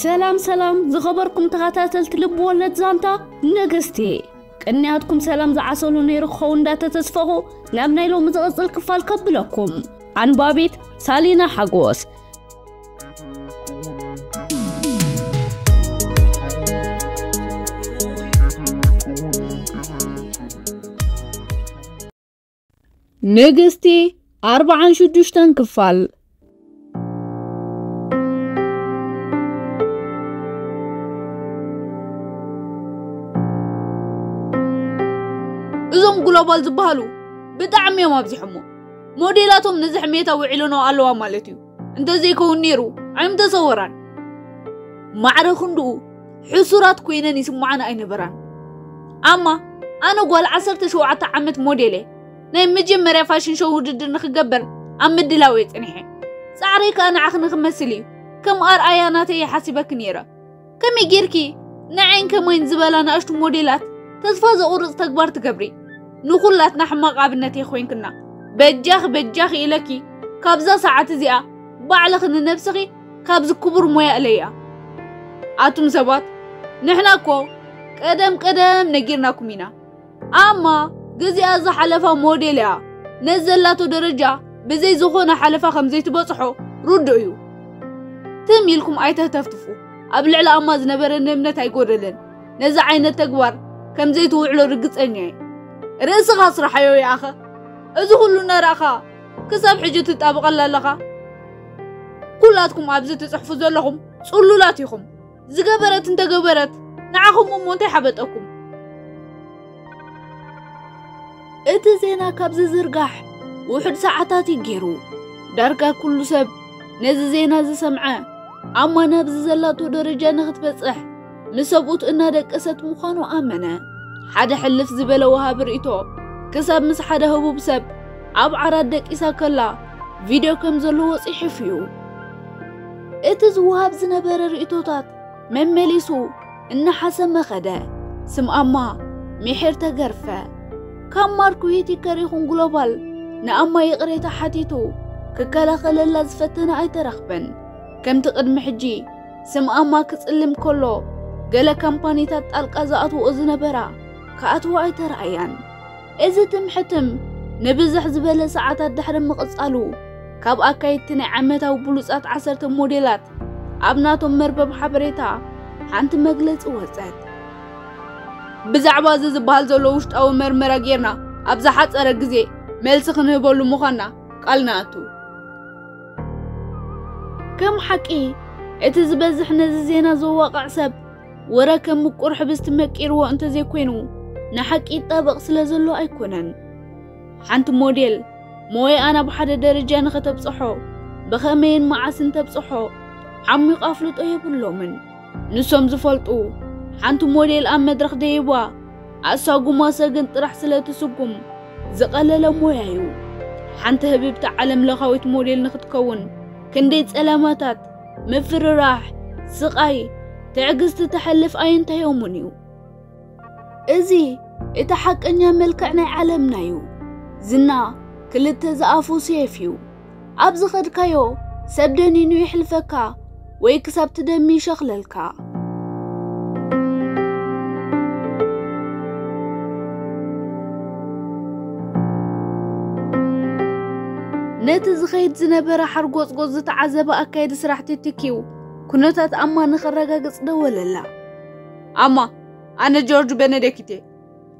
ሰላም ሰላም ዝኸበርኩም ተኸታተልቲ ልብ ወለድ ዛንታ ነገስቲ ቅንያትኩም ሰላም ዝዓሰሉ ነይሩ ክኸውን እንዳተተስፈኹ ናብ ናይ ሎሚ ዝቕፅል ክፋል ከብለኩም ኣንባቢት ሳሊና ሓጎስ ንግስቲ ኣርብዓን ሽዱሽተን ክፋል እዞም ግሎባል ዝበሃሉ ብጣዕሚ እዮም ኣብዚሖሞ ሞዴላቶም ነዚ ሕሜታ ውዒሎኖ ኣለዋ ማለት እዩ እንተዘይከውን ነይሩ ኣይምተሰወራን። ማዕረ ክንድኡ ሕሱራት ኮይነን ይስምዓን ኣይነበራን። ኣማ ኣነ ጓል ዓሰርተ ሸውዓተ ዓመት ሞዴል እየ። ናይ መጀመርያ ፋሽን ሾው ውድድር ንክገበር ኣብ ምድላው እየ ጸኒሐ። ጻዕረይ ከኣ ንዓኽ ንክመስል እዩ። ከም ኣርኣያ ናተይ እየ ሓሲበኪ ነይረ። ከመይ ጌርኪ ንዓይን ከማይን ዝበላ ናእሽቱ ሞዴላት ተስፋ ዘቑርፅ ተግባር ትገብሪ ንኹላትና ሕማቕ ኣብነት እየ ኮይንክና በጃኺ በጃኺ ኢለኪ ካብዛ ሰዓት እዚኣ ባዕልኺ ንነብስኺ ካብዚ ክቡር ሞያ እለያ ኣቱም ሰባት ንሕና እኮ ቀደም ቀደም ነጊርናኩም ኢና ኣማ ግዚኣ ዝሓለፋ ሞዴል እያ ነዚ ዘላቶ ደረጃ ብዘይ ዝኾነ ሓለፋ ከም ዘይትበጽሖ ርዱእ እዩ ትም ኢልኩም ኣይተህተፍትፉ ኣብ ልዕሊ ኣማ ዝነበረኒ እምነት ኣይጎደለን ነዚ ዓይነት ተግባር ከም ዘይትውዕሎ ርግጸኛ እየ ርእስኻ ስራሓዮ ይኣኸ እዚ ኩሉ እናረእኻ ክሳብ ሕጂ ትጣብቐላ ኣለኻ ኩላትኩም ኣብዚ ትጽሕፉ ዘለኹም ጽሉላት ኢኹም ዝገበረት እንተገበረት ንዓኹም እሞ እንታይ ሓበጠኩም? እቲ ዜና ካብ ዝዝርጋሕ ውሑድ ሰዓታት እዩ ገይሩ ዳርጋ ኩሉ ሰብ ነዚ ዜና ዝሰምዐ ኣማን ኣብዚ ዘላቶ ደረጃ ንኽትበጽሕ ምስ ሰብኡት እናደቀሰት ምዃኑ ኣመነ ሓደ ሕልፍ ዝበለ ወሃቢ ርእቶ ክሳብ ምስ ሓደ ህቡብ ሰብ ኣብ ዓራት ደቂሳ ከላ ቪድዮ ከም ዘለዎ ጽሒፉ እዩ እቲ ዝወሃብ ዝነበረ ርእይቶታት መመሊሱ እናሓሰመ ኸደ። ስም ኣማ ሚሒር ተገርፈ። ካብ ማርክ ዊቲከር ይኹን ግሎባል ንኣማ ይቕሬታ ሓቲቱ ክከላኸለላ ዝፈተነ ኣይተረኽበን። ከምቲ ቅድሚ ሕጂ ስም ኣማ ክጽልም ከሎ ገለ ካምፓኒታት ጣልቃ ዝኣትውኦ ዝነበራ ክኣትዋ ኣይተራእያን። እዚ ትም ሕትም ንብዝሕ ዝበለ ሰዓታት ድሕሪ ምቕጻሉ፣ ካብ ኣካየድቲ ናይ ዓመታዊ ብሉጻት ዓሰርተ ሞዴላት ኣብ ናቶም መርበብ ሓበሬታ ሓንቲ መግለጺ ወጸት። ብዛዕባ እዚ ዝበሃል ዘሎ ውሽጣዊ መርመራ ጌርና ኣብ ዝሓጸረ ግዜ መልሲ ክንህበሉ ምዃንና ቃል ንኣቱ። ከም ሓቂ እቲ ዝበዝሕ ነዚ ዜና ዘዋቕዕ ሰብ ወረ ከም ምቁር ሕብስቲ መቂርዎ እንተዘይኮይኑ ንሓቂ ይጣበቕ ስለ ዘሎ ኣይኮነን። ሓንቲ ሞዴል ሞያኣ ናብ ሓደ ደረጃ ንኸተብጽሖ ብኸመይን መዓስን ተብጽሖ ዓሚቑ ኣፍልጦ የብሎምን። ንሶም ዝፈልጡ ሓንቲ ሞዴል ኣብ መድረኽ ደይባ ኣሳጉማ ሰግን ጥራሕ ስለ ትስጉም ዝቐለለ ሞያ እዩ። ሓንቲ ህብብቲ ዓለም ለኻዊት ሞዴል ንኽትከውን ክንደይ ጸለማታት ምፍርራሕ፣ ስቓይ፣ ትዕግስቲ ተሕልፍ ኣይንተዮሙን እዩ። እዚ እቲ ሓቀኛ መልክዕ ናይ ዓለምና እዩ። ዝና ክልተ ዝኣፉ ሴፍ እዩ። ኣብ ዝኸድካዮ ሰብ ደኒኑ ይሕልፈካ ወይ ክሳብ ትደሚ ይሸኽለልካ። ነቲ ዝኸይድ ዝነበረ ሓርጎጽጎጽ ዝተዓዘበ ኣካየዲ ስራሕቲ ትኪው ኩነታት ኣማ ንኸረጋግጽ ደወለላ ኣማ ኣነ ጆርጅ በነደኪቴ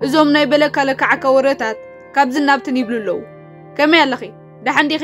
እዞም ናይ በለካ ለካዓካ ወረታት ካብዚ ናብትን ይብሉ ኣለዉ ከመይ ኣለኺ ደሓን ዲኺ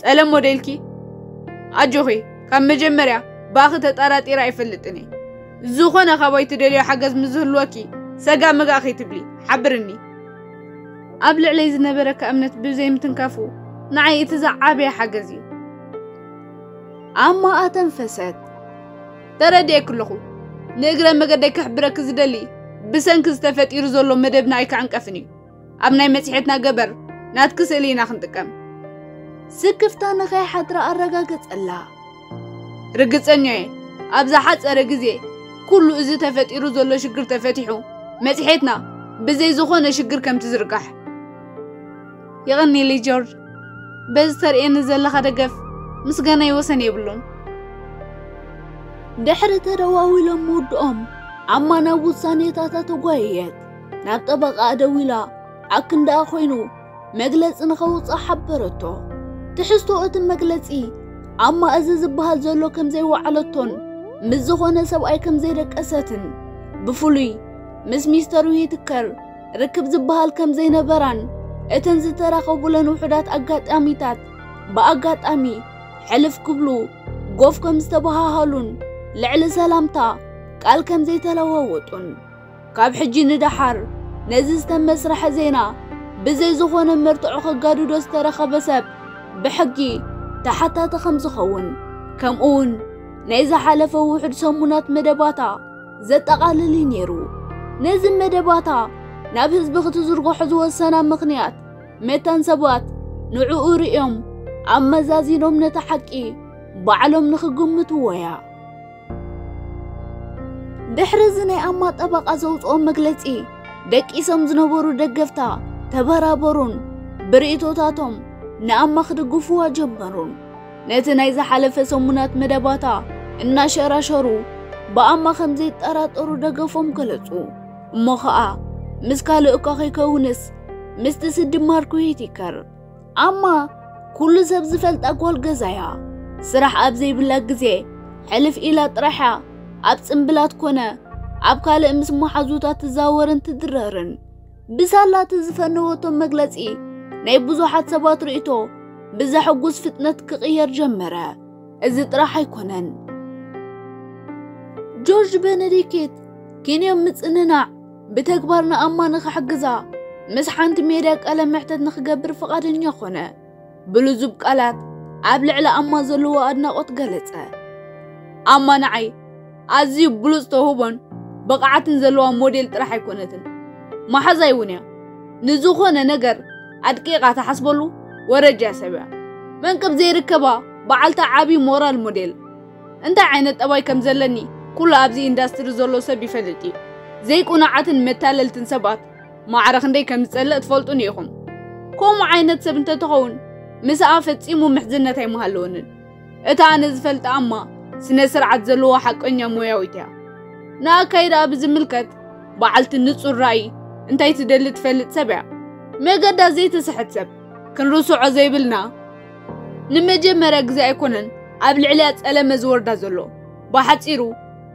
ጸለም ሞዴልኪ ኣጆኺ ካብ መጀመርያ ባኺ ተጠራጢረ ኣይፈልጥን እየ ዝኾነ ካባይ ትደልዮ ሓገዝ ምስ ዝህልወኪ ሰጋ መጋ ከይትብሊ ሓብርኒ ኣብ ልዕለይ ዝነበረካ እምነት ብዘይ ምትንካፉ ንዓይ እቲ ዝዓበየ ሓገዝ እዩ ኣማ ኣተንፈሰት ተረድኤክ ኣለኹ ንእግረ መገደይ ከሕብረኪ ዝደሊ ብሰንኪ ዝተፈጢሩ ዘሎ መደብና ኣይክዕንቀፍን እዩ ኣብ ናይ መጽሔትና ገበር ናትኪ ስእሊ ኢና ክንጥቀም። ስክፍታ ንኸይሓድራ ኣረጋገጸላ። ርግጸኛ እየ ኣብ ዝሓጸረ ግዜ ኩሉ እዚ ተፈጢሩ ዘሎ ሽግር ተፈቲሑ መጽሔትና ብዘይ ዝኾነ ሽግር ከም ትዝርጋሕ። የቐኒለይ ጆርጅ፣ በዚ ተርእየኒ ዘለኻ ደገፍ ምስጋናይ ወሰን የብሉን። ድሕሪ ተደዋዊሎም ምውድኦም ኣማ ናብ ውሳኔታታ ተጓየየት። ናብ ጠበቓኣ ደዊላ ኣክንዳኣ ኮይኑ መግለጺ ንኸውጽእ ሓበረቶ። ትሕዝቶ እቲ መግለጺ ኣብ ማእዚ ዝበሃል ዘሎ ከም ዘይወዓለቶን ምስ ዝኾነ ሰብኣይ ከም ዘይደቀሰትን ብፍሉይ ምስ ሚስተር ዊትከር ርክብ ዝበሃል ከም ዘይነበራን እተን ዝተራኸቡለን ውሑዳት ኣጋጣሚታት ብኣጋጣሚ ሕልፍ ክብሉ ጎፍ ከም ዝተበሃሃሉን ልዕሊ ሰላምታ ቃል ከም ዘይተለዋወጡን ካብ ሕጂ ንደሓር ነዚ ዝተመስረሐ ዜና ብዘይ ዝኾነ መርትዖ ከጋድዶ ዝተረኸበ ሰብ ብሕጊ ተሓታቲ ከም ዝኸውን ከምኡውን ናይ ዝሓለፈ ውሑድ ሰሙናት መደባታ ዘጠቓልል እዩ ነይሩ። ነዚ መደባታ ናብ ህዝቢ ክትዝርግሖ ዝወሰና ምኽንያት መታን ሰባት ንዕኡ ርእዮም ኣመዛዚኖም ነታ ሓቂ ባዕሎም ንኽግምትዎ እያ። ድሕሪ እዚ ናይ ኣማ ጠበቓ ዘውፅኦ መግለፂ ደቂሶም ዝነበሩ ደገፍታ ተበራበሩን ብርእቶታቶም ንኣማ ክድግፍዋ ጀመሩን ነቲ ናይ ዝሓለፈ ሰሙናት መደባታ እናሸራሸሩ ብኣማ ከም ዘይጠራጠሩ ደገፎም ገለጹ እሞ ኸኣ ምስ ካልእ እኳ ከይከውንስ ምስቲ ስዲ ማርኩ ሂቲከር ኣማ ኩሉ ሰብ ዝፈልጣ ጓል ገዛያ ስራሕ ኣብ ዘይብላ ግዜ ሕልፍ ኢላ ጥራሕያ ኣብ ጽምብላት ኮነ ኣብ ካልእ ምስ መሓዙታት ትዛወርን ትድረርን ብሳላቲ ዝፈነወቶም መግለጺ ናይ ብዙሓት ሰባት ርእይቶ ብዘሐጉስ ፍጥነት ክቕየር ጀመረ። እዚ ጥራሕ ኣይኮነን። ጆርጅ ቤነዲክት ኪንዮ ምጽንናዕ ብተግባር ንኣማ ንኽሕግዛ ምስ ሓንቲ ሜዳ ቃለ መሕተት ንኽገብር ፈቓደኛ ኾነ። ብልዙብ ቃላት ኣብ ልዕሊ ኣማ ዘለዎ ኣድናቖት ገለጸ። ኣማ ንዓይ ኣዝዩ ብሉጽ ተውህቦን ብቕዓትን ዘለዋ ሞዴል ጥራሕ ኣይኮነትን፣ መሓዛይ እውን እያ። ንዝኾነ ነገር ኣድቂቓ ትሓስበሉ ወረጃ ሰብ እያ። መንቅብ ዘይርከባ በዓልቲ ዓቢ ሞራል ሞዴል። እንታይ ዓይነት ጠባይ ከም ዘለኒ ኩሉ ኣብዚ ኢንዳስትሪ ዘሎ ሰብ ይፈልጥ እዩ። ዘይቁኑዓትን መታለልትን ሰባት ማዕረ ክንደይ ከም ዝጸልእ ትፈልጡኒ ኢኹም። ከምኡ ዓይነት ሰብ እንተትኸውን ምስኣ ፈጺሙ ምሕዝነት ኣይምሃለወንን። እታ ኣነ ዝፈልጣ እማ ስነ ስርዓት ዘለዎ ሓቀኛ ሞያዊት እያ። ንኣካይዳኣ ብዝምልከት በዓልቲ ንጹር ራእይ፣ እንታይ ትደሊ ትፈልጥ ሰብ እያ። መገዳ ዘይትስሕት ሰብ ክንርስዖ ዘይብልና ንመጀመርያ ግዜ ኣይኮነን ኣብ ልዕልያ ጸለመ ዝወርዳ ዘሎ ብሓጺሩ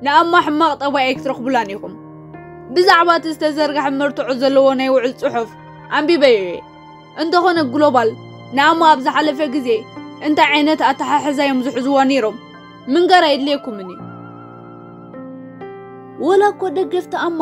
ንኣማ ሕማቕ ጠባይ ኣይክትረኽቡላን ኢኹም ብዛዕባ እቲ ዝተዘርግሐ መርትዖ ዘለዎ ናይ ውዕል ጽሑፍ ኣንቢበዮ እየ እንተኾነ ግሎባል ንኣማ ኣብ ዝሓለፈ ግዜ እንታይ ዓይነት ኣተሓሕዛ እዮም ዝሕዝዋ ነይሮም ምንጋር ኣይድልየኩምን እዩ ወላ እኮ ደገፍቲ ኣማ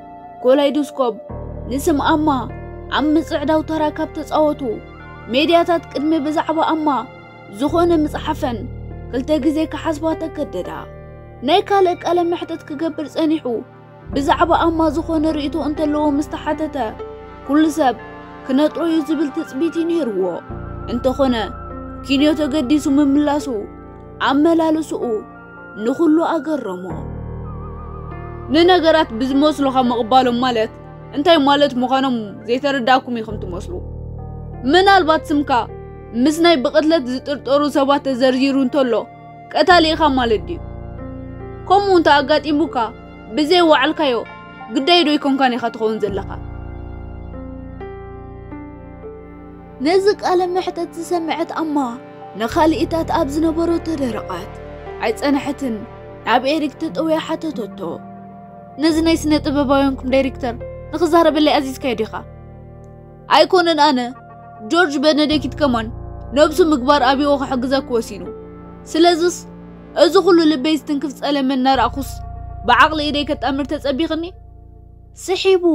ኮላይዶስኮፕ ንስም ኣማ ኣብ ምጽዕዳው ተራ ካብ ተጻወቱ ሜድያታት ቅድሚ ብዛዕባ ኣማ ዝኾነ ምጽሓፈን ክልተ ግዜ ክሓስባ ተገደዳ። ናይ ካልእ ቃለ መሕተት ክገብር ጸኒሑ ብዛዕባ ኣማ ዝኾነ ርእይቶ እንተለዎ ምስ ተሓተተ ኩሉ ሰብ ክነጥሮ እዩ ዝብል ትጽቢት እዩ ነይርዎ። እንተኾነ ኪንዮ ተገዲሱ ምምላሱ ኣመላልስኡ ንኹሉ ኣገረሞ። ንነገራት ብዝመስሉኻ ምቕባሎም ማለት እንታይ ማለት ምዃኖም ዘይተረዳእኩም ኢኹም ትመስሉ። ምናልባት ስምካ ምስ ናይ ብቕትለት ዝጥርጠሩ ሰባት ተዘርዚሩ እንተሎ ቀታሊ ኢኻ ማለት ድዩ? ከምኡ እንተ ኣጋጢሙካ ብዘይ ዋዕልካዮ ግዳይ ዶ ይኮንካን ኢኻ ትኸውን ዘለኻ? ነዚ ቃለ መሕተት ዝሰምዐት ኣማ ንካልኢታት ኣብ ዝነበሮ ተደረቓት ኣይጸንሐትን ናብ ኤሪክ ተጠውያ ሓተተቶ ነዚ ናይ ስነ ጥበባውያንኩም ዳይሬክተር ንክዛረበለይ ኣዚዝካዮ ዲኻ ኣይኮነን ኣነ ጆርጅ በነደኪት ከማን ነብሱ ምግባር ኣብዎ ክሕግዛ ክወሲኑ ስለዝስ እዚ ኩሉ ልበይ ዝትንክፍ ጸለመ እናረኣኹስ ብዓቕሊ ኢደይ ከጣምር ተጸቢኽኒ ስሒቡ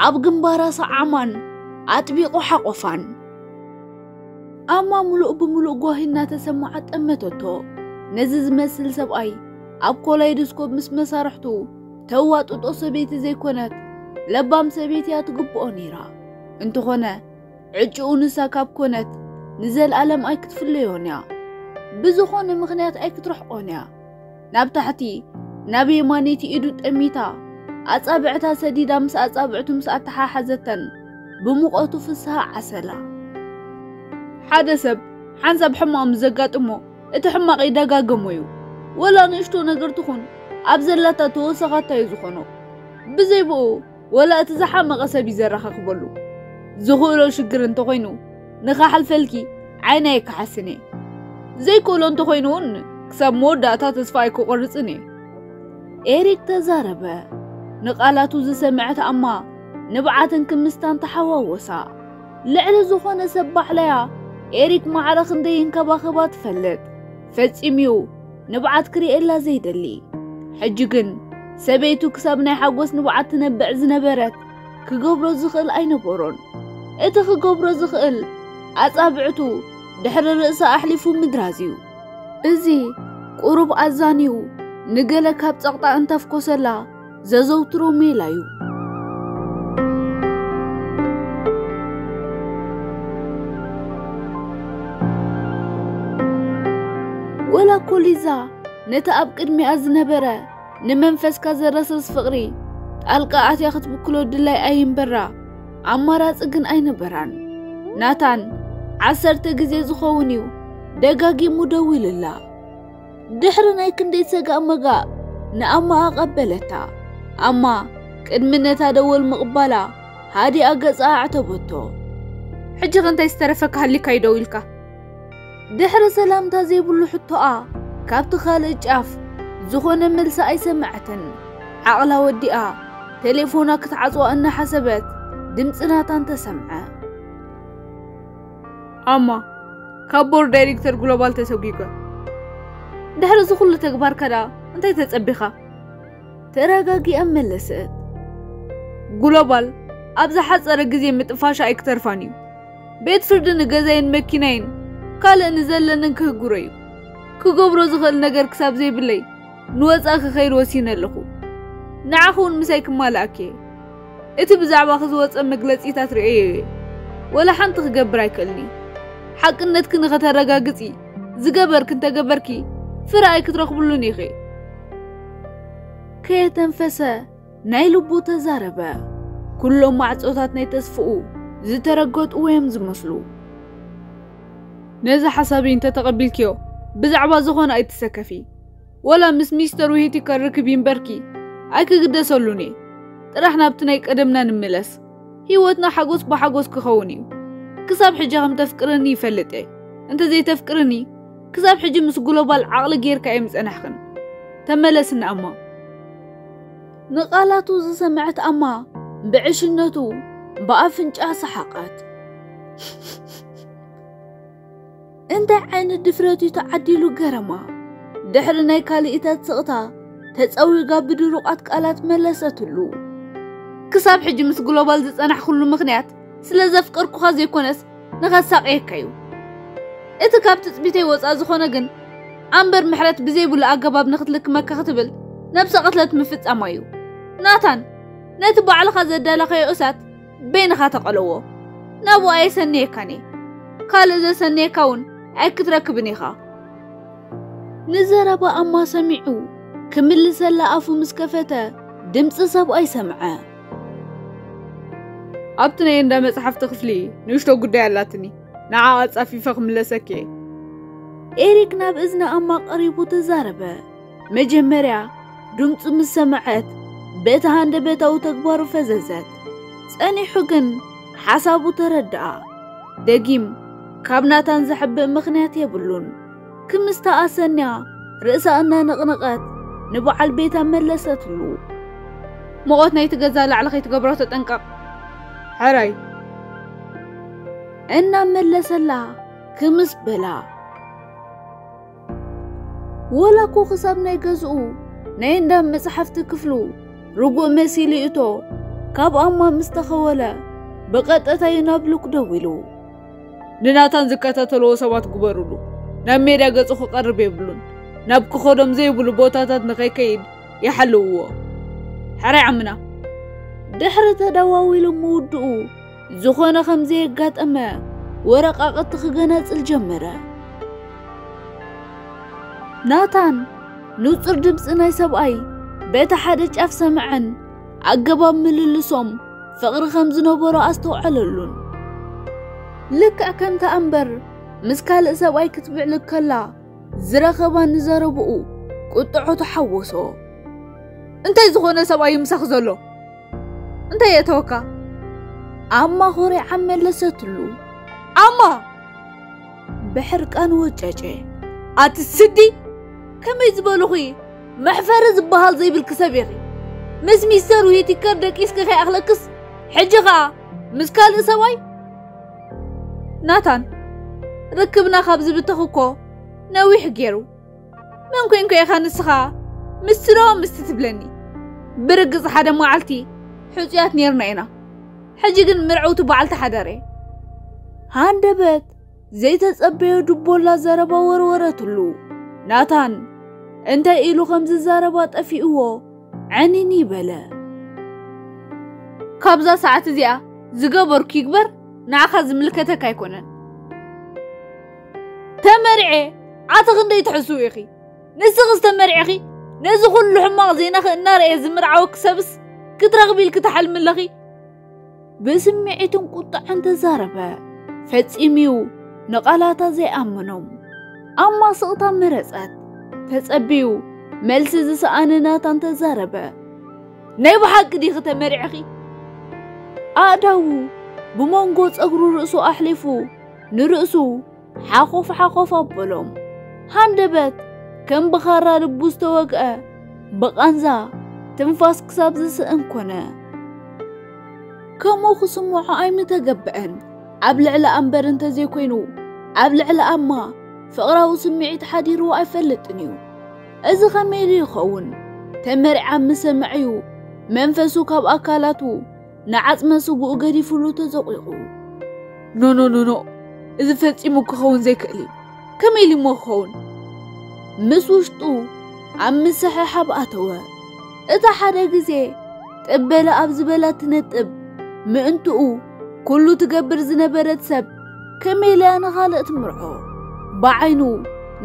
ኣብ ግንባራ ሰዓማን ኣጥቢቑ ሓቖፋን። ኣማ ምሉእ ብምሉእ ጓሂ እናተሰማዓት ጠመተቶ። ነዚ ዝመስል ሰብኣይ ኣብ ኮላይዶስኮፕ ምስ መሳርሕቱ ተዋጥጦ ሰበይቲ ዘይኮነት ለባም ሰበይቲ እያ ትግብኦ ነይራ። እንተኾነ ዕጭኡ ንሳ ካብ ኮነት ንዘለኣለም ኣይክትፍለዮን እያ። ብዝኾነ ምኽንያት ኣይክትረሕቆን እያ። ናብ ታሕቲ ናብ የማነይቲ ኢዱ ጠሚታ ኣጻብዕታ ሰዲዳ ምስ ኣጻብዕቱ ምስ ኣተሓሓዘተን ብሙቐቱ ፍስሃ ዓሰላ። ሓደ ሰብ ሓንሳብ ሕማቕ ምስ ዘጋጥሞ እቲ ሕማቕ ይደጋገሞ እዩ። ወላ ንእሽቶ ነገር ትኹን ኣብ ዘላታ ተወሰኻታ እዩ ዝኾኖ። ብዘይ ብኡ ወላ እቲ ዝሓመቐ ሰብ እዩ ዘረኻኽበሉ ዝኽእሎ ሽግር እንተኾይኑ ንኻሓልፈልኪ ዓይን ኣይከሓስን እየ ዘይክእሎ እንተኾይኑ እውን ክሳብ መወዳእታ ተስፋ ኣይክቆርፅን እየ ኤሪክ ተዛረበ ንቃላቱ ዝሰምዐት ኣማ ንብዓትን ክምስታን ተሓዋወሳ ልዕሊ ዝኾነ ሰብ ባዕላያ ኤሪክ ማዕረ ክንደይ ይንከባኸባ ትፈልጥ ፈጺሙ'ዩ ንብዓት ክርእየላ ዘይደሊ። ሕጂ ግን ሰበይቱ ክሳብ ናይ ሓጎስ ንብዓት ትነብዕ ዝነበረት ክገብሮ ዝኽእል ኣይነበሮን። እቲ ክገብሮ ዝኽእል ኣጻብዕቱ ድሕሪ ርእሳ ኣሕሊፉ ምድራዝ'ዩ። እዚ ቁሩብ ኣዛንዩ ንገለ ካብ ጸቕጣ እንተፍኮሰላ፣ ዘዘውትሮ ሜላ እዩ። ወላ እኮ ሊዛ ነቲ ኣብ ቅድሚኣ ዝነበረ ንመንፈስካ ዘረስርስ ፍቕሪ ጣልቃ ኣትያ ክትብክሎ ድላይ ኣይምበራ ኣማራፂ ግን ኣይነበራን። ናታን ዓሰርተ ግዜ ዝኸውን እዩ ደጋጊሙ ደዊሉላ። ድሕሪ ናይ ክንደይ ሰጋእ መጋእ ንኣማ ኣቐበለታ። ኣማ ቅድሚ ነታ ደወል ምቕባላ ሃዲኣ ገጻ ኣዕተበቶ። ሕጂ ከ እንታይ ዝተረፈካ ሃሊካ እዩ ደው ኢልካ? ድሕሪ ሰላምታ ዘይብሉ ሕቶኣ ካብቲ ካልእ ጫፍ ዝኾነ መልሲ ኣይሰምዐትን። ዓቕላ ወዲኣ ቴሌፎና ክትዓጽዋ እናሓሰበት ድምጺ ናታን ተሰምዐ። ኣማ ካብ ቦርድ ዳይሬክተር ግሎባል ተሰጒጓ ድሕሪ እዚ ኩሉ ተግባርካ ደኣ እንታይ ተጸቢኻ ተረጋጊኣ መለሰት ግሎባል ኣብ ዝሓጸረ ግዜ ምጥፋሻ ኣይክተርፋን እዩ ቤት ፍርዲ ንገዛይን መኪናይን ካልእ ንዘለንን ክህግሮ እዩ ክገብሮ ዝኽእል ነገር ክሳብ ዘይብለይ ንወጻኢ ክኸይድ ወሲነ ኣለኹ ንዓኺ እውን ምሳይ ክማልኣኪ እየ እቲ ብዛዕባኺ ዝወጸ መግለጺታት ርእየዮ እየ። ወላ ሓንቲ ክገብር ኣይክእልን እየ። ሓቅነትኪ ንኸተረጋግጺ ዝገበርኪ እንተገበርኪ ፍረ ኣይክትረኽብሉን ኢኺ። ከየተንፈሰ ናይ ልቡ ተዛረበ። ኩሎም ማዕጾታት ናይ ተስፍኡ ዝተረገጡ እዮም ዝመስሉ። ነዚ ሓሳብይ እንተተቐቢልክዮ ብዛዕባ ዝኾነ ኣይትሰከፊ። ወላ ምስ ሚስተር ውሂቲ ከርክብ ይምበርኪ ኣይክግደሰሉን እየ ጥራሕ ናብቲ ናይ ቀደምና ንምለስ ህይወትና ሓጎስ ብሓጎስ ክኸውን እዩ ክሳብ ሕጂ ከም ተፍቅርኒ ይፈልጥ እየ እንተዘይተፍቅርኒ ክሳብ ሕጂ ምስ ግሎባል ዓቕሊ ጌርካ እየ ምጸናሕኽን ተመለስና ኣማ ንቓላቱ ዝሰምዐት ኣማ ብዕሽነቱ ብኣፍንጫ ሰሓቓት እንታይ ዓይነት ድፍረት እዩ ተዓዲሉ ገረማ ድሕሪ ናይ ካልኢታት ስቕታ ተጸዊጋ ብድሩቓት ቃላት መለሰትሉ። ክሳብ ሕጂ ምስ ግሎባል ዝጸናሕኩሉ ምኽንያት ስለ ዘፍቀርኩኻ ዘይኮነስ ንኸሳቕየካ እዩ። እቲ ካብ ትጽቢተይ ወጻእ ዝኾነ ግን ኣምበር ምሕረት ብዘይብሉ ኣገባብ ንክትልክመካ ክትብል ነብሰ ቅትለት ምፍጻማ እዩ። ናታን ነቲ ባዕልኻ ዘዳላኻዮ እሳት በይንኻ ተቐለዎ ናብኡ ኣየሰንየካን እየ ካልእ ዘሰንየካ እውን ኣይክትረክብን ኢኻ ንዘረባ ኣማ ሰሚዑ ክምልሰላ ኣፉ ምስ ከፈተ ድምፂ ሰብኣይ ሰምዐ ኣብቲ ናይ እንዳ መፅሓፍቲ ክፍሊ ንእሽቶ ጉዳይ ኣላትኒ ንዓ ኣፃፊፈ ክምለሰኪ እየ ኤሪክ ናብ እዝኒ ኣማ ቀሪቡ ተዛረበ መጀመርያ ድምፁ ምስ ሰምዐት በቲ ሃንደበታዊ ተግባሩ ፈዘዘት። ጸኒሑ ግን ሓሳቡ ተረድኣ። ደጊም ካብ ናታን ዘሕብእ ምኽንያት የብሉን። ክምስታ ኣሰንያ ርእሳ እናነቕነቐት ንበዓል ቤታ መለሰትሉ። ሙቐት ናይቲ ገዛ ላዕሊ ከይትገብሮ ተጠንቀቕ ሕራይ እናመለሰላ ክምስ በላ። ወላ እኮ ክሳብ ናይ ገዝኡ ናይ እንዳ መጽሓፍቲ ክፍሉ ርጉእ መሲሉ እቶ ካብ ኣማ ምስ ተኸወለ ብቐጥታ እዩ ናብ ሉክ ደዊሉ ንናታን ዝከታተልዎ ሰባት ግበሩሉ ናብ ሜዳ ገጹ ክቐርብ የብሉን ናብ ክኸዶም ዘይብሉ ቦታታት ንኸይከይድ ይሓልውዎ ሕራይ ዓምና ድሕሪ ተደዋዊሉ ምውድኡ ዝኾነ ከም ዘየጋጠመ ወረቃቕቲ ክገነጽል ጀመረ። ናታን ንጹር ድምፂ ናይ ሰብኣይ በቲ ሓደ ጫፍ ሰምዐን ኣገባብ ምልልሶም ፍቕሪ ከም ዝነበሮ ኣስተውዓለሉን። ልክዕ ከምቲ ኣምበር ምስ ካልእ ሰብኣይ ክትብዕል ከላ ዝረኸባ ንዘረብኡ ቁጥዖ ተሓወሶ። እንታይ ዝኾነ ሰብኣይ ምሳኽ ዘሎ? እንታይ የተወካ? ኣማ ኹሪዓ መለሰትሉ። ኣማ! ብሕርቃን ወጨጨ። ኣቲ ስዲ! ከመይ ዝበልኹ መሕፈሪ ዝበሃል ዘይብልኪ ሰብ ኢኺ። ምስ ሚስተር ዊቲከር ደቂስኪ ከይኣኽለክስ ሕጂ ኸኣ ምስ ካልእ ሰብኣይ ናታን ርክብና ካብ ዝብተኽ እኮ ነዊሕ ገይሩ። መን ኮንኩ ኢኻ ንስኻ ምስቲ ዶ ምስቲ ትብለኒ ብርግጽ ሓደ መዓልቲ ሕጹያት ነርና ኢና ሕጂ ግን ምርዕውቲ በዓልቲ ሓዳር እየ ሃንደበት ዘይተጸበዮ ድቦላ ዘረባ ወርወረትሉ ናታን እንታይ ኢሉ ከም ዝዛረባ ጠፊእዎ ዕኒኒ በለ ካብዛ ሰዓት እዚኣ ዝገበርኩ ይግበር ንዓኻ ዝምልከተካ ኣይኮነን ተመርዔ ዓቲ ክንደይ ትሕስው ኢኺ ንስኺስ ተመርዒኺ ነዚ ኩሉ ሕማቕ ዜናኺ እናርኣየ ዝምርዓወኪ ሰብስ ክትረኽቢ ኢልኪ ትሓልሚ ኣለኺ ብስምዒትን ቁጥዐን ተዛረበ ፈጺምዩ ንቓላታ ዘይኣመኖም ኣብ ማስቕታ መረጸት ተጸብዩ መልሲ ዝሰኣነ ናታን ተዛረበ ናይ ብሓቂ ዲኺ ተመሪዕኺ ኣእዳዉ ብመንጎ ጸጉሩ ርእሱ ኣሕሊፉ ንርእሱ ሓኾፍ ሓኾፍ ኣበሎም። ሃንደበት ከም ብኻራ ልቡ ዝተወግአ ብቓንዛ ትንፋስ ክሳብ ዝስእን ኮነ። ከምኡ ክስምዖ ኣይምተገብዐን። ኣብ ልዕሊ ኣንበር እንተዘይኮይኑ ኣብ ልዕሊ ኣማ ፍቕራዊ ስምዒት ሓዲሩ ኣይፈልጥን እዩ። እዚ ከመይ ኢሉ ይኸውን? ተመሪዓ ምስ ሰምዐ'ዩ መንፈሱ ካብ ኣካላቱ ንዓጽመ ስግኡ ገዲፍሉ ተዘቝቑ። ኖኖኖኖ! እዚ ፈጺሙ ክኸውን ዘይክእል እዩ። ከመይ ኢሉ እሞ ክኸውን? ምስ ውሽጡ ኣብ ምስሕሓብ ኣተወ። እታ ሓደ ግዜ ጥበለ ኣብ ዝበላ ትነጥብ ምእንትኡ ኩሉ ትገብር ዝነበረት ሰብ ከመይ ኢላ ንኻልእ ትምርዖ ብዓይኑ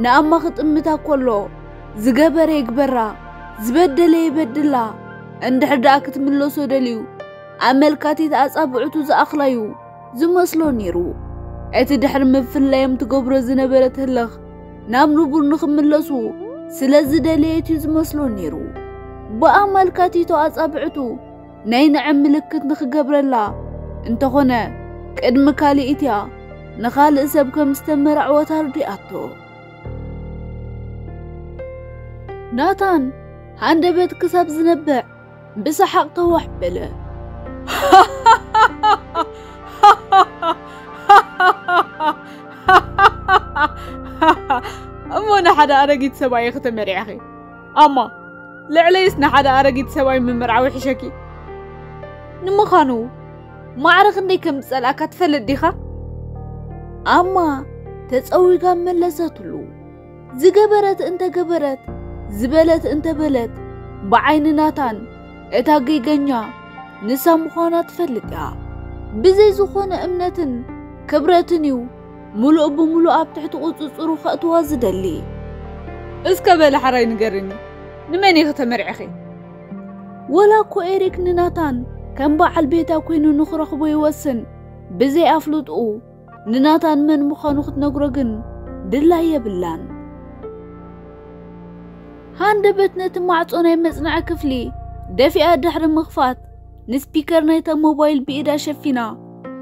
ንኣማ ክጥምታ ኮሎ ዝገበረ ይግበራ ዝበደለ ይበድላ እንድሕር ደኣ ክትምለሶ ደልዩ ኣመልካቲት ኣጻብዕቱ ዝኣኽላዩ ዝመስሎ ነይሩ። እቲ ድሕሪ ምፍላዮም ትገብሮ ዝነበረት ህልኽ ናብ ንቡር ንኽምለሱ ስለ ዝደለየት እዩ ዝመስሎ ነይሩ። ብኣመልካቲቶ ኣጻብዕቱ ናይ ንዐ ምልክት ንኽገብረላ እንተኾነ ቅድሚ ካልኢት እያ ንኻልእ ሰብ ከም ዝተመራዕወት ኣርዲኣቶ። ናታን ሃንደበት ክሳብ ዝነብዕ ብሰሓቕ ከዋሕ በለ። እሞ ንሓደ ኣረጊት ሰብኣይ ኢኺ ተመሪዕኺ ኣማ ልዕለይስ ንሓደ ኣረጊት ሰብኣይ ምምርዓዊ ሕሸኪ ንምዃኑ ማዕረ ክንደይ ከም ዝጸልኣካ ትፈልጥ ዲኻ? ኣማ ተጸዊጋ መለሰትሉ። ዝገበረት እንተገበረት ዝበለት እንተበለት ብዓይኒ ናታን እታ ጌገኛ ንሳ ምዃና ትፈልጥ እያ። ብዘይ ዝኾነ እምነትን ክብረትን እዩ ምሉእ ብምሉእ ኣብ ትሕቲ ቁጽጽሩ ከእትዋ ዝደሊ። እስከ በለ ሓራይ ንገርኒ ንመን ኢኺ ተመርዒኺ? ወላ እኮ ኤሪክ ንናታን ከም በዓል ቤታ ኮይኑ ንኽረኽቦ ይወስን ብዘይ ኣፍልጥኡ ንናታን መን ምዃኑ ክትነግሮ ግን ድላይ የብላን ሃንደበት ነቲ ማዕጾ ናይ መጽናዒ ክፍሊ ደፊኣ ድሕሪ ምኽፋት ንስፒከር ናይታ ሞባይል ብኢዳ ሸፊና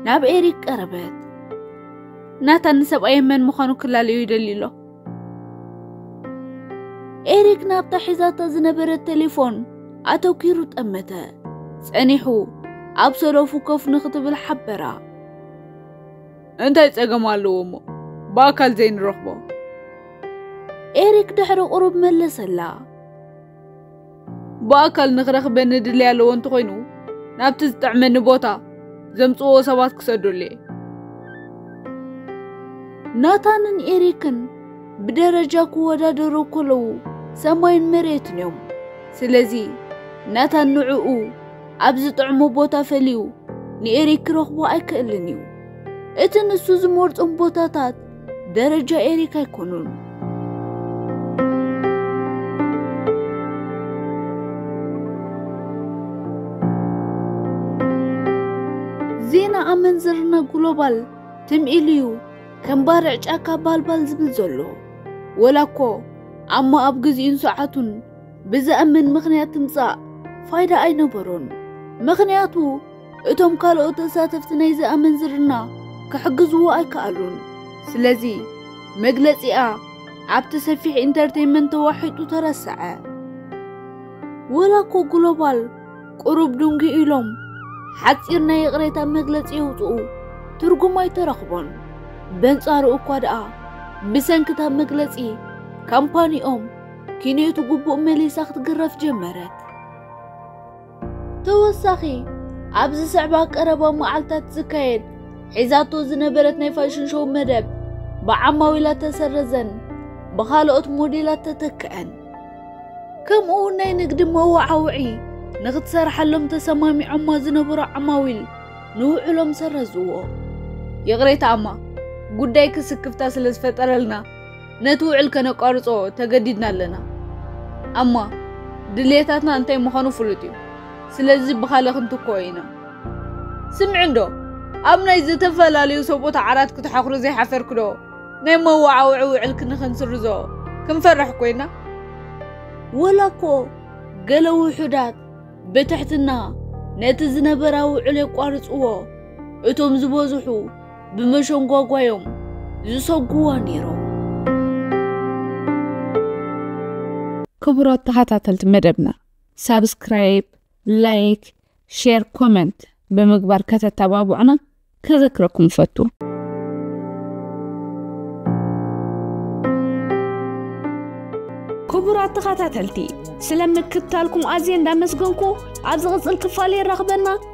ናብ ኤሪክ ቀረበት። ናታን ንሰብኣየ መን ምዃኑ ክላለዩ ይደልዩ ኣሎ። ኤሪክ ናብታ ሒዛታ ዝነበረት ቴሌፎን ኣተኲሩ ጠመተ። ጸኒሑ ኣብ ሰለፉ ኮፍ ንኽትብል ሓበራ። እንታይ ጸገም ኣለዎ እሞ ብኣካል ዘይንረኽቦ? ኤሪክ ድሕሪ ቁሩብ መለሰላ። ብኣካል ንኽረኽበኒ ድሌ ኣለዎ እንተኾይኑ ናብቲ ዝጥዕመኒ ቦታ ዘምጽዎ ሰባት ክሰዱለየ ናታንን ኤሪክን ብደረጃ ክወዳደሩ ከለዉ ሰማይን መሬትን እዮም ስለዚ ናታን ንዕኡ ኣብ ዝጥዕሞ ቦታ ፈልዩ ንኤሪክ ክረኽቦ ኣይክእልን እዩ እቲ ንሱ ዝመርጾም ቦታታት ደረጃ ኤሪክ ኣይኮኑን። ዜና ኣመንዝርና ግሎባል ትም ኢሉዩ ከም ባርዕ ጫካ ባልባል ዝብል ዘሎ ወላ እኮ ኣሞ ኣብ ግዚኡን ሰዓቱን ብዘእምን ምኽንያት ትምጻእ ፋይዳ ኣይነበሮን ምኽንያቱ እቶም ካልኦት ተሳተፍቲ ናይዚ ኣመንዝርና ክሕግዝዎ ኣይከኣሉን። ስለዚ መግለጺኣ ኣብቲ ሰፊሕ ኢንተርቴይንመንት ተዋሒጡ ተረሰዐ። ወላ እኮ ግሎባል ቁሩብ ድንጉ ኢሎም ሓጺር ናይ ይቕሬታ መግለጺ የውጽኡ ትርጉም ኣይተረኽቦን። በንጻሩ እኳ ደኣ ብሰንክታ መግለጺ ካምፓኒኦም ኪንዮቱ ግቡእ መሊሳ ክትግረፍ ጀመረት። ተወሳኺ ኣብ ዝስዕባ ቀረባ መዓልታት ዝካየድ ሒዛቶ ዝነበረት ናይ ፋሽን ሾው መደብ ብዓማዊላ ተሰረዘን ብኻልኦት ሞዴላት ተተክዐን። ከምኡ እውን ናይ ንግዲ መወዓውዒ ንክትሰርሓሎም ተሰማሚዖማ ዝነበሩ ዓማዊል ንውዕሎም ሰረዝዎ። ይቕሬታ እማ ጉዳይኪ ስክፍታ ስለ ዝፈጠረልና ነቲ ውዕል ከነቋርጾ ተገዲድና ኣለና ኣማ ድልየታትና እንታይ ምዃኑ ፍሉጥ እዩ ስለዚ ብኻለ ክንትኮ ኢና ስምዕ እንዶ ኣብ ናይ ዝተፈላለዩ ሰብኡት ዓራት ክትሓኽሩ ዘይሓፈርክዶ ናይ መዋዓውዒ ውዕል ክንክንስርዞ ክንፈርሕ ኮይና ወላ እኮ ገለ ውሑዳት ብትሕትና ነቲ ዝነበራ ውዕል የቋርጽዎ እቶም ዝበዝሑ ብመሸንጓጓዮም ዝሰጉዋ ነይሮም። ክቡራት ተኸታተልቲ መደብና ሳብስክራይብ፣ ላይክ፣ ሼር፣ ኮመንት ብምግባር ከተተባብዑና ከዘክረኩም ፈቱ። ክቡራት ተኸታተልቲ ስለ ምክትታልኩም ኣዝየ እንዳመስገንኩ ኣብ ዝቕፅል ክፋል የራኽበና።